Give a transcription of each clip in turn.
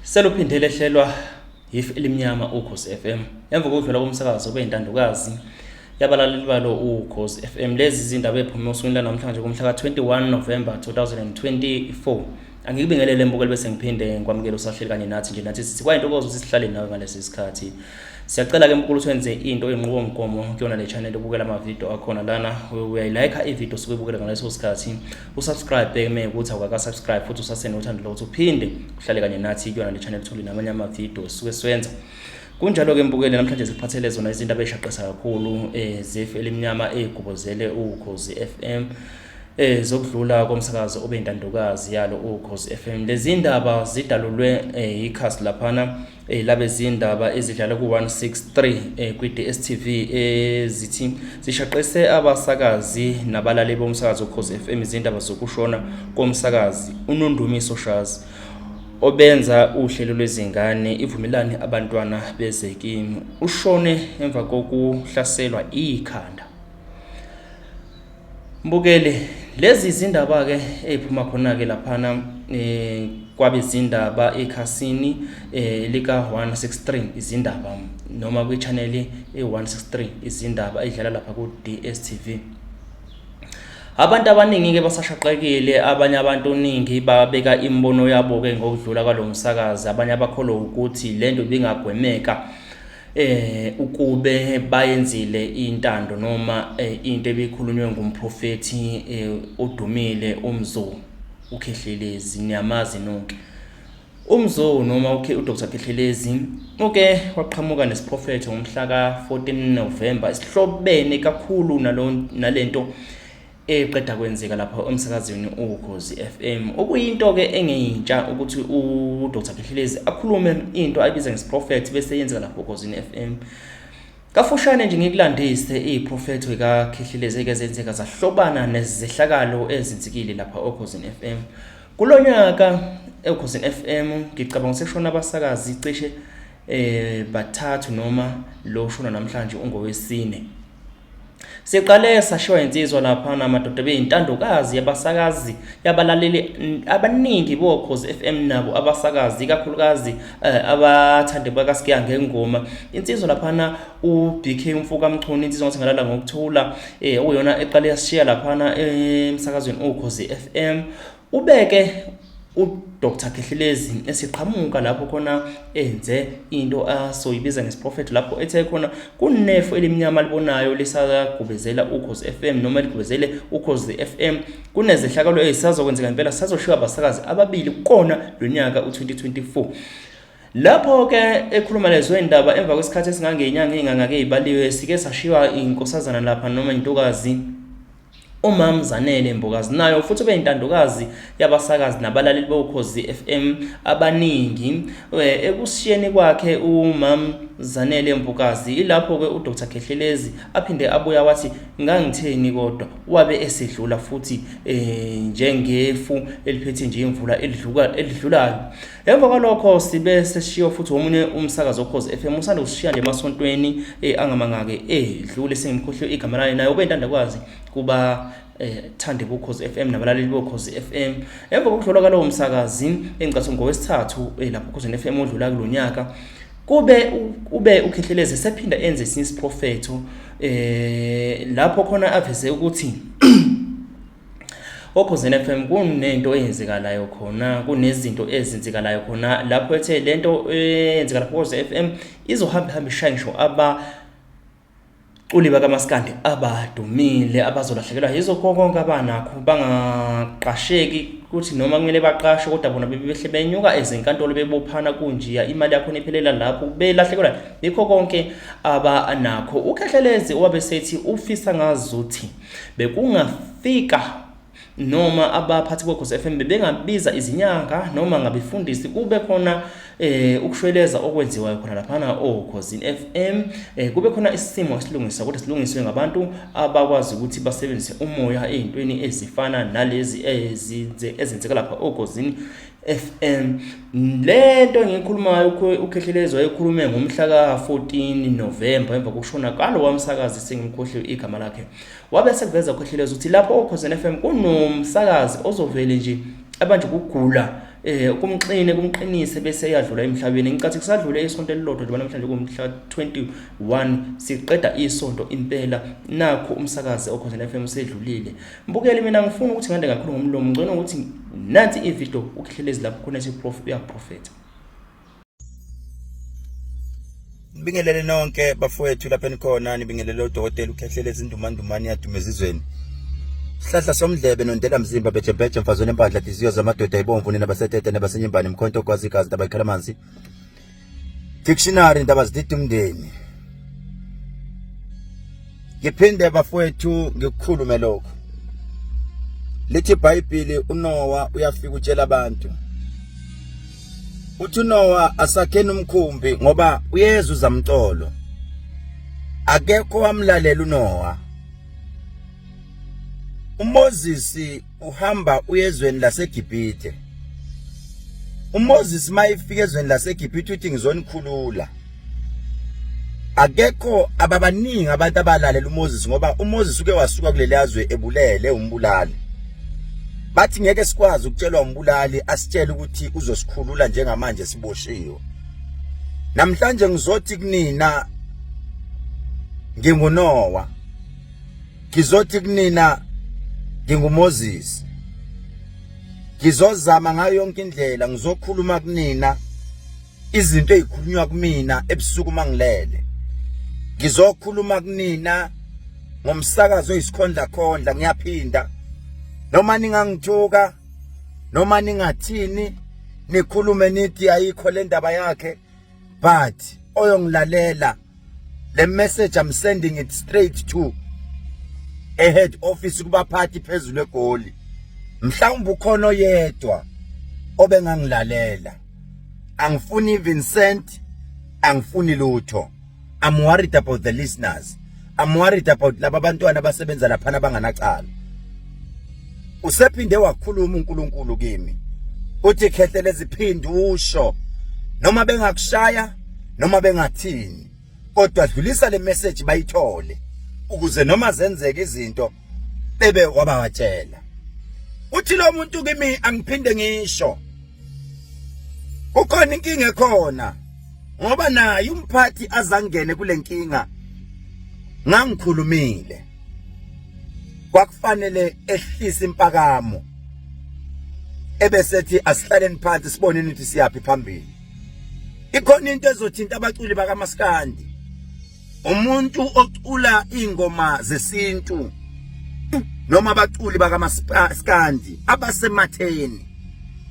Seluphinde lehlelwa yifu elimnyama ukhozi FM emva kokudlula komsakazo kube intandokazi yabalaleli balo ukhozi FM lezi zindaba ephume osukwini lanamhlanje kumhla ka-21 November 2024 angikubingelele mbukeli bese ngiphinde ngikwamukele usahleli kanye nathi nje nathi sithi kwayintokozo ukuthi sihlale nawe ngalesi sikhathi siyacela ke mkhulu senze into enqubomgomo kuyona le channel ubukela amavidiyo akhona lana uyayilayikha ividiyo osuke ubukela ngaleso sikhathi usubscribe uma ukuthi awukakasubscribe futhi usasenothando lokuthi uphinde uhlale kanye nathi kuyona le channel uthole namanye amavidiyo suke siwenza kunjalo-ke mbukele namhlanje sikuphathele zona izinto abeyishaqisa kakhulu um eh, zefu elimnyama eyigubuzele ukhozi f m eh zokudlula komsakazo obe intandokazi yalo ukhozi FM lezindaba zidalulwe eh, ikhasi laphana eh, labezindaba ezidlala ku-163 eh, kwi-dstv ezithi eh, zishaqise abasakazi nabalali bomsakazi ukhozi f m izindaba zokushona komsakazi unondumiso shazi obenza uhlelo lwezingane ivumelani abantwana bezekimi ushone emva kokuhlaselwa ikhanda Mbukeli, lezi zindaba-ke ey'phuma khona-ke laphana um eh, kwabezindaba ekhasini eh, lika-163 izindaba noma kwichaneli e-163 izindaba idlala lapha ku-dstv abantu abaningi-ke basashaqekile abanye abantu ningi babeka imibono yabo-ke ngokudlula kwalo msakazi abanye abakholwa ukuthi le nto ibingagwemeka eh ukube bayenzile intando noma eh, into ebikhulunywe ngumprofethi eh, odumile umzo ukhehlelezi niyamazi nonke umzo noma ukhe uDr Khehlelezi uke waqhamuka nesiprofetho ngomhla ka 14 November esihlobene kakhulu nalento eqeda kwenzeka lapha emsakazweni uKhozi FM okuyinto ke engeyintsha ukuthi uDr Khehlelezi akhulume into ayibiza ngesiprophet bese yenzeka lapha uKhozi FM Kafushane nje ngikulandise iprofethi kaKhehlelezi eke zenzeka zahlobana nezehlakalo ezinzikile lapha oKhozi FM Kulonyaka eKhozi FM ngicabanga sekushona abasakazi cishe eh bathathu noma lo shona namhlanje ungowesine Siqale sashiwa insizwa laphana madoda beyintandokazi yabasakazi yabalaleli abaningi bokhozi FM nabo abasakazi ikakhulukazi eh, abathande bakasikiya ngengoma insizwa laphana uBK umfoka Mchunu insizwa ngathi ngalala ngokuthula eh uyona eqale yasishiya laphana emsakazweni okhozi FM Ubeke uDr Khehlelezi esiqhamuka lapho khona enze into asoyibiza ngesiprofeto lapho ethe khona kunefo elimnyama alibonayo lisagubezela ukhozi FM noma ligubezele ukhozi FM kunezehlakalo ezisazokwenzeka impela sazoshiwa abasakazi ababili kukona lonyaka u2024 Lapho ke ekhuluma lezwe indaba emva kwesikhathi esingangenyanga ingangake ibaliwe sike sashiywa inkosazana lapha noma intokazi UMam Zanele Mbokazinayo futhi ubeyintandokazi yabasakazi nabalaleli boKhozi FM abaningi. Eh, Ekushiyeni kwakhe uMam Zanele Mbokazi ilapho-ke uDr Khehlelezi aphinde abuya wathi ngangitheni kodwa wabe esedlula futhi eh, njengefu eliphethe nje imvula elidluka- elidlulayo. Emva kwalokho sibe seshiyo futhi omunye umsakazo okhozi FM usanda kusishiya nje emasontweni eh angamangake edlule eh, sengimkhohliwe igama lani naye ubentanda kwazi kuba eh thande bokhozi FM nabalaleli bokhozi FM emva kokudlula kalowo msakazi engicathi ngowesithathu eh, lapho khozini FM odlula kulonyaka kube ube ukhehleleze sephinda enze isinye isiprofetho eh lapho khona aveze ukuthi okhozini FM kunento eyenzekalayo khona kunezinto ezenzekalayo khona lapho ethe lento eyenzeka lapho koze FM izohamba hamba ishaye ngisho aba culi bakamaskandi abadumile abazolahlekelwa yizo konke abanakho bangaqasheki ukuthi noma kumele baqashwe kodwa bona bebehle benyuka ezinkantolo bebophana kunjiya imali yakho nephelela lapho belahlekelwa yikho konke abanakho ukhehlelezi owabe sethi ufisa ngazuthi Bekungafika noma abaphathi bokhozi FM bebengabiza izinyanga noma ngabefundisi kube khona eh ukushweleza okwenziwayo khona laphana okhozini FM eh kube khona isimo esilungisa kodwa silungiswe ngabantu abakwazi ukuthi basebenzise umoya ezintweni ezifana nalezi ezinze ezenzeka lapha okhozini FM lento engikhulumayo uKhehlelezwa ekhulume ngomhla ka-14 November emva kokushona kalo wamsakazi sengimkhohliwe igama lakhe wabe sekuveza uKhehlelezwa ukuthi lapho oKhozen FM kunomsakazi ozovele nje abanje ukugula eh kumxine kumqinise bese eyadlula emhlabeni ngicathi kusadlule isonto elilodwa njengoba namhlanje kumhla 21 siqeda isonto impela nakho umsakazi okhona FM usedlulile Mbukeli mina ngifuna ukuthi ngande kakhulu ngomlomo ngcono ukuthi nansi ivideo ukuhlelezi lapho khona isiprof uyaprofetha Ngibingelele nonke bafowethu lapha enikhona nibingelele udokotela ukhehlele izindumandumane yadume ezizweni Sihlahla somdlebe nondela mzimba bejebheje mfazweni empandla diziyo zamadoda ibomvu nina basetete nebasenyembane mkhonto kwazi igazi nabayikhala amanzi Dictionary indaba zidida umndeni. Ngiphinde bafowethu ngikukhulume lokho. Lithi iBhayibheli uNowa uyafika utshela abantu. Uthi uNowa asakheni umkhumbi ngoba uyeza uzamtolo. Akekho wamlalela uNowa. uMoses uhamba uyezweni laseGibhithe uMoses mayifika ezweni laseGibhithe uthi ngizonikhulula akekho ababaningi abantu abalalela uMoses ngoba uMoses uke wasuka kuleli yazwe ebulele umbulali bathi ngeke sikwazi ukutshelwa umbulali asitshele ukuthi uzosikhulula njengamanje siboshiwe namhlanje ngizothi kunina ngingunowa ngizothi kunina nginguMoses ngizozama ngayo yonke indlela ngizokhuluma kunina izinto ezikhulunywa kumina ebusuku mangilele ngizokhuluma kunina ngomsakazo oyisikhondla khondla ngiyaphinda noma ningangithuka noma ningathini nikhulume nithi ayikho le ndaba yakhe but oyongilalela le message i'm sending it straight to a head office kubaphathi phezulu egoli mhlawumbe ukhona oyedwa obengangilalela angifuni even cent angifuni lutho I'm worried about the listeners I'm worried about laba bantwana abasebenza laphana abanganacala usephinde wakhuluma uNkulunkulu kimi uthi khehle leziphindi usho noma bengakushaya noma bengathini kodwa dlulisa le message bayithole ukuze noma zenzeka izinto bebe wabatshela uthi lo muntu kimi angiphinde ngisho kukhona inkinga ekhona ngoba naye umphathi azangene kulenkinga ngangikhulumile kwakufanele ehlise impakamo ebesethi asihlaleni phansi siboneni ukuthi siyaphi phambili ikhona into ezothinta abaculi bakamaskandi umuntu ocula ingoma zesintu noma abaculi bakamaskandi abasematheni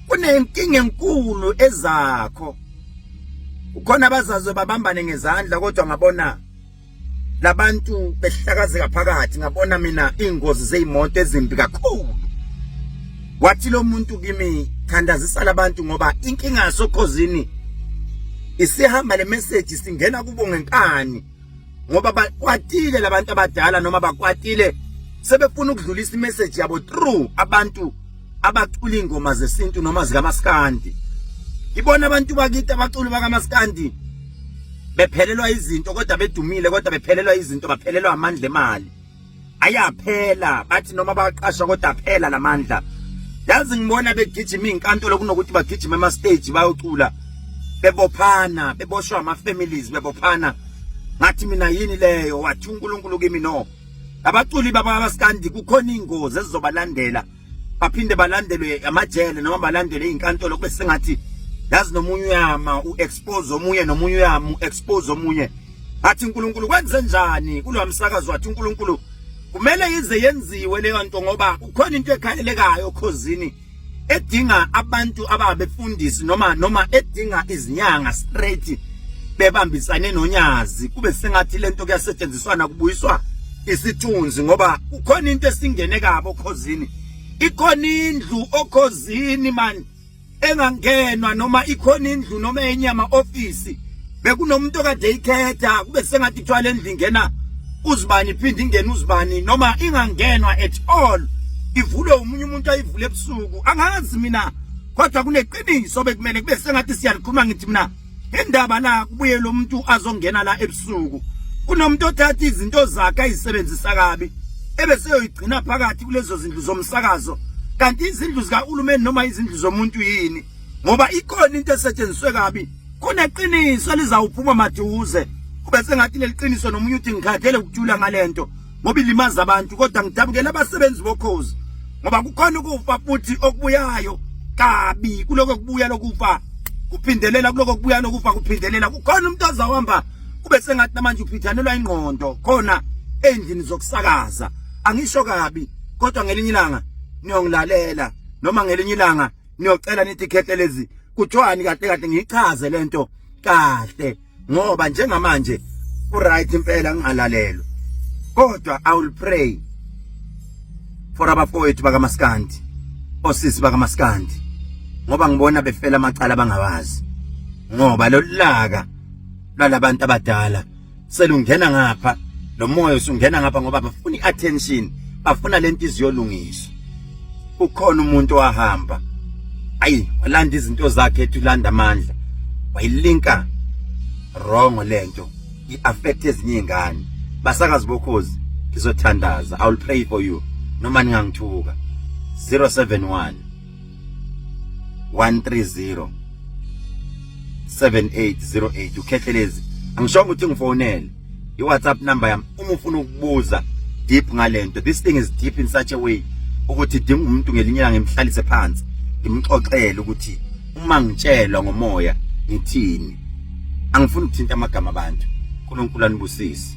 kunenkinga enkulu ezakho ukhona abazazwe babambane ngezandla kodwa ngabona labantu behlakazeka phakathi ngabona mina ingozi zeimoto ezimbi kakhulu wathi lo muntu kimi thandazisa labantu ngoba inkinga yasokhozini isihamba le message singena kubo ngenkani ngoba bakwatile labantu abadala noma bakwatile sebefuna ukudlulisa imessage yabo through abantu abacula ingoma zesintu noma zikamaskandi ibona abantu bakithi abaculi bakamaskandi bephelelwa izinto kodwa bedumile kodwa bephelelwa izinto baphelelwa amandla emali ayaphela bathi noma baqasha kodwa phela lamandla yazi ngibona begijima izinkantolo kunokuthi bagijima ema stage bayocula bebophana beboshwa ama families bebophana ngathi mina yini leyo wathi uNkulunkulu kimi no abaculi baba basikandi kukhona ingozi ezizobalandela baphinde balandelwe amajele noma balandelwe izinkantolo kube sengathi yazi nomunye uyama uexpose omunye nomunye uyama uexpose omunye athi uNkulunkulu kwenze njani kulo msakazo wathi uNkulunkulu kumele ize yenziwe leyo nto ngoba kukhona into ekhalelekayo khozini edinga abantu ababefundisi noma noma edinga izinyanga straight bebambisane nonyazi kube sengathi lento kuyasetshenziswana kubuyiswa isithunzi ngoba kukhona into esingene kabo okhozini ikhona indlu okhozini manje engangenwa noma ikhona indlu noma enyama office bekunomuntu okade ikhetha kube sengathi kuthiwa le ndlu ingena uzibani iphinde ingene uzibani noma ingangenwa at all ivulwe umunye umuntu ayivule ebusuku angazi mina kodwa kuneqiniso bekumele kube sengathi siyalikhuluma ngithi mina indaba la kubuye lo muntu azongena la ebusuku kunomuntu othatha izinto zakhe ayisebenzisa kabi ebeseyoyigcina phakathi kulezo zindlu zomsakazo kanti izindlu zikahulumeni noma izindlu zomuntu yini ngoba ikhona into esetshenziswe kabi kuneqiniso lizawuphuma maduze kube sengathi leliqiniso nomunye uthi ngikhathele ukujula ngalento ngoba ilimaza abantu kodwa ngidabukela abasebenzi bokhozi ngoba kukhona ukufa futhi okubuyayo kabi kuloko kubuya lokufa kuphindelela kuloko kubuya lokufa kuphindelela kukhona umuntu azawuhamba kube sengathi namanje uphithanelwa ingqondo khona endlini zokusakaza angisho kabi kodwa ngelinye ilanga niyongilalela noma ngelinye ilanga niyocela nithi khethelezi kuthiwani kahle kahle ngiyichaze lento kahle ngoba njengamanje uright impela ngingalalelwa kodwa i will pray for abafowethu bakamaskandi osisi bakamaskandi ngoba ngibona befela amacala bangawazi ngoba lolaka lwalabantu abadala selungena ngapha lo moya usungena ngapha ngoba bafuna iattention bafuna lento iziyolungiswa kukhona umuntu wahamba ayi walanda izinto zakhe ethi ulanda amandla wayilinka wrong lento iaffect ezinye izingane basakazi bokhozi ngizothandaza i will pray for you noma ningangithuka 071 130 7808 ukhethelezi angishongo ukuthi ngifonele i WhatsApp number yami uma ufuna ukubuza deep ngalento this thing is deep in such a way ukuthi dinga umuntu ngelinye ilanga ngimhlalise phansi ngimxoxele ukuthi uma ngitshelwa ngomoya ngithini angifuni ukuthinta amagama abantu uNkulunkulu anibusise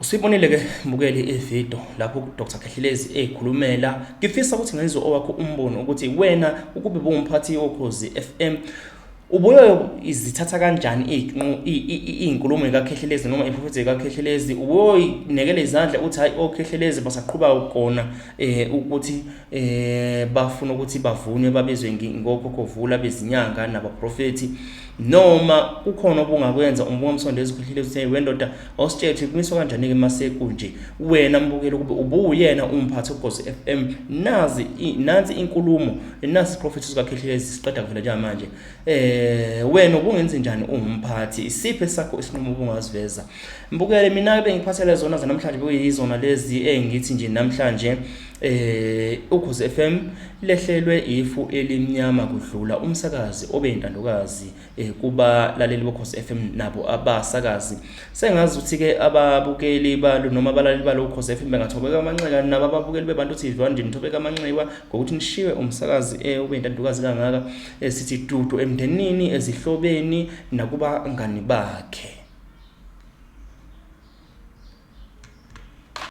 Usibonile ke mbukeli ivideo lapho uDr Khehlelezi ekhulumela ngifisa ukuthi ngenze owakho umbono ukuthi wena ukube bungumphathi wokhozi FM ubuye izithatha kanjani izinkulumo zikaKhehlelezi noma iprofethi zikaKhehlelezi ubuye inekele izandla uthi hayi oKhehlelezi oh, basaqhuba ukona eh ukuthi eh bafuna ukuthi bavunwe babizwe ngokho kovula bezinyanga nabaprofethi noma kukhona obungakwenza umbonga umsondo ezikhulile uthe wendoda Awusitshele kumiswa kanjani-ke masekunje wena mbukeli ukube ubuwuyena umphathi ogozi FM nazi nansi inkulumo nasi isiprofetho sikaKhehlelezi siqeda kuvela njengamanje eh wena ubungenzi njani ungumphathi isiphe sakho isinqumo ubungaziveza mbukele mina bengiphathele zona zanamhlanje bekuyizona lezi engithi nje namhlanje eh ugozi FM lehlelwe ifu elimnyama kudlula umsakazi obeyintandokazi eh kubalaleli bokhosi FM nabo abasakazi sengazi ukuthi ke ababukeli balo noma abalaleli balo ukhosi FM bengathobeka amanxeba nabo ababukeli bebantu TV wanje nithobeka amanxeba ngokuthi nishiwe umsakazi eh ube intandokazi kangaka esithi eh, dudu emndenini ezihlobeni nakuba ngani bakhe